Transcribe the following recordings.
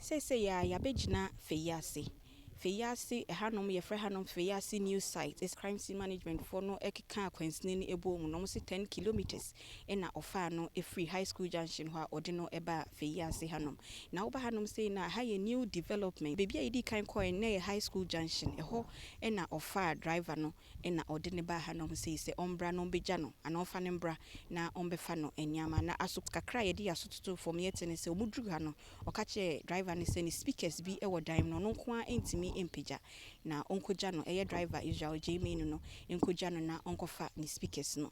Seesei ara yɛabɛgyina Feyiase. Feyiase, ɛhanom yɛfrɛ hanom Feyiase New Site, is Crime Scene Management foɔ no ɛkekaa kwansini no ɛbɔɔ mu na wɔn se ten kilometres ɛna ɔfaa no ɛfiri High School Junction hɔ a wɔde no ɛbaa Feyiase hanom. Na woba hanom sei no a, ha yɛ new development. Baabi a yɛdii kan kɔɔɛ no na ɛyɛ High School Junction, ɛhɔ ɛna wɔfaa driver no ɛna wɔde no baa hanom sei sɛ ɔmbra na wɔmbɛgya no anaa wɔmfa no mbra na wɔmbɛfa no nneɛma na aso kakra a yɛde yɛn aso totoo fam yɛte ne sɛ wɔduruu ha no Ɔka kyerɛɛ driver no sɛ ne speakers bi wɔ dan mu na ɔno nko ara ntumi mpagya, na ɔnkɔgya no, ɛyɛ driver Israel Gyeimanu no nkɔgya no na ɔnkɔfa ne speakers no.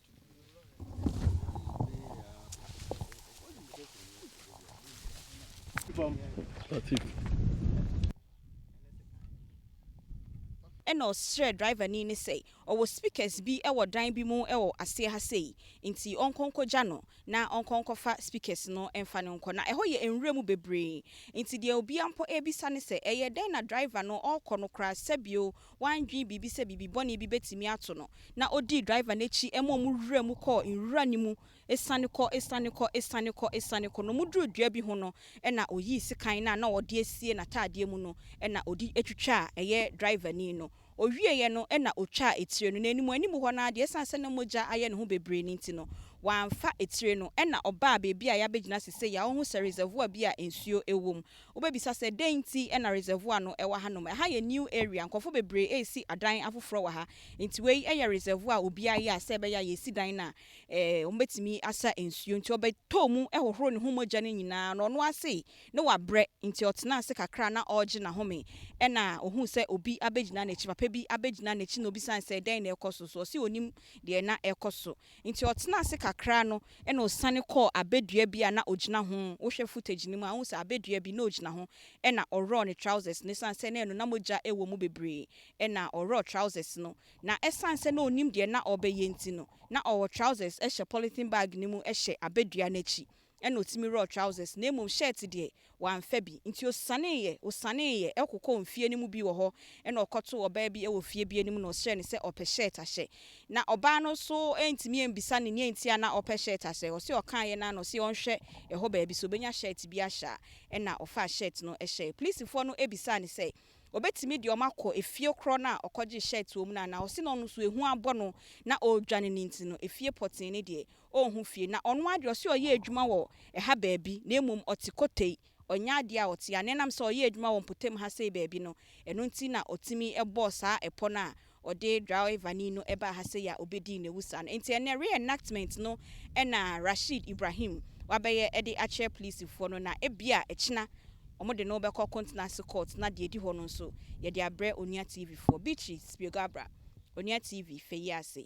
Ɛnna ɔsrɛɛ driverni no sɛ ɔwɔ speakers bi wɔ dan bi mu wɔ aseɛ ha sei, nti ɔnkɔ nkɔgya no na ɔnkɔ nkɔfa speakers no mfa no nkɔ. Na ɛhɔ yɛ nwura mu bebree, nti deɛ obiara mpo rebisa ne sɛ, Ɛyɛ dɛn na driver no ɔrekɔ no koraa? Sɛbio Wandwen biribi sɛ biribi bɔne bi betumi ato no, na odii driver no akyi ma wɔn wuraa mu kɔɔ nwura no mu asiane kɔ, asiane kɔ, asiane kɔ, asiane kɔ, na wɔduruu dua bi ho no, ɛnna oyii sekan no a na ɔde asie n'atadeɛ mu no, ɛnna ɔde twitwaa ɛyɛ driverni no. Ɔwieeɛ no, ɛnna ɔtwaa etire no, na anim anim hɔ no ara deɛ, ɛsiane sɛ na mogya ayɛ ne ho bebree no nti no, wamfa etire no. Ɛnna ɔbaa baabi a yɛabɛgyina sesei a, wohu sɛ reservoir bi a nsuo wom. Wobɛbisa sɛ, dɛn nti na reservoir no wɔ hanom? Ɛha yɛ new area, nkurɔfo bebree resi adan afoforɔ wɔ ha, nti wei yɛ reservoir a obiara yɛ a sɛ ɛbɛyɛ a yɛsi dan no a wɔbɛtumi asa nsuo. Nti ɔbɛtɔɔ mu hohoroo ne ho mogya no nyinaa na ɔno ara se ne wabrɛ, nti ɔtenaa ase kakra na ɔregye n'ahome, ɛna ɔhuu sɛ obi abɛgyina n'akyi, papa bi abɛgyina n'akyi na ɔbisaa no sɛ dɛn na ɛrekɔ so, so ɔse ɔnim deɛ na ɛrekɔ so. Enti ɔtenaa ase kakra no na ɔsiane kɔɔ abɛdua bi a na ɔgyina ho, wohwɛ footage no mu a wohu sɛ abɛdua bi na ɔgyina ho na ɔworɔɔ ne trousers no ɛsiane sɛ na ɛno na mogya wɔ mu bebree na ɔworɔɔ trousers no na ɛsiane sɛ na ɔnim deɛ na ɔrebɛyɛ nti no na ɔwɔ trousers hyɛ polythene bag no mu hyɛ abɛdua no akyi ɛna ɔtumi werɛɔ trousers na mmom shirt deɛ wamfa bi nti ɔsianeeɛ ɔsianeeɛ kɔkɔɔ mfie no mu bi wɔ hɔ ɛna ɔkɔtoo ɔbaa bi wɔ fie bi anim na ɔsrɛɛ no sɛ ɔpɛ shirt ahyɛ na ɔbaa no nso antumi ambisa no neɛ nti a na ɔpɛ shirt ahyɛ ɔse ɔkaeɛ no ara na ɔse ɔnhwɛ ɛhɔ baabi sɛ ɔbɛnya shirt bi ahyɛ a ɛna ɔfaa shirt no hyɛɛ polisifoɔ no bisaa no sɛ ɔbɛtumi de wɔn akɔ efie korɔ no a ɔkɔgyee shirt wɔ mu no anaa ɔse na ɔno nso ehu abɔ no na ɔredwane no nti no efie pɔtee no deɛ Ɔnhu fie, na ɔno ara de, ɔse ɔyɛ adwuma wɔ ɛha baabi, na mmom ɔte Kotei. Ɔnyɛ adeɛ a ɔte ha, na ɛnam sɛ ɔyɛ adwuma wɔ mpɔtam ha sei baabi no, ɛno nti na ɔtumi bɔɔ saa ɛpɔ no a ɔde draɔevani no baa ha sei a ɔbɛdii n'awusa no. Nti ɛnnɛ, re-enactment no na Rasheed Ibrahim wabɛyɛ de akyerɛ polisifoɔ no, na ebia ɛkyena wɔde no bɛkɔ Kontenase Court, na deɛ ɛdi hɔ no nso, yɛde abrɛ Onua TV foɔ. Beatrice Spiegabra, Onua TV, fɛ yi ase.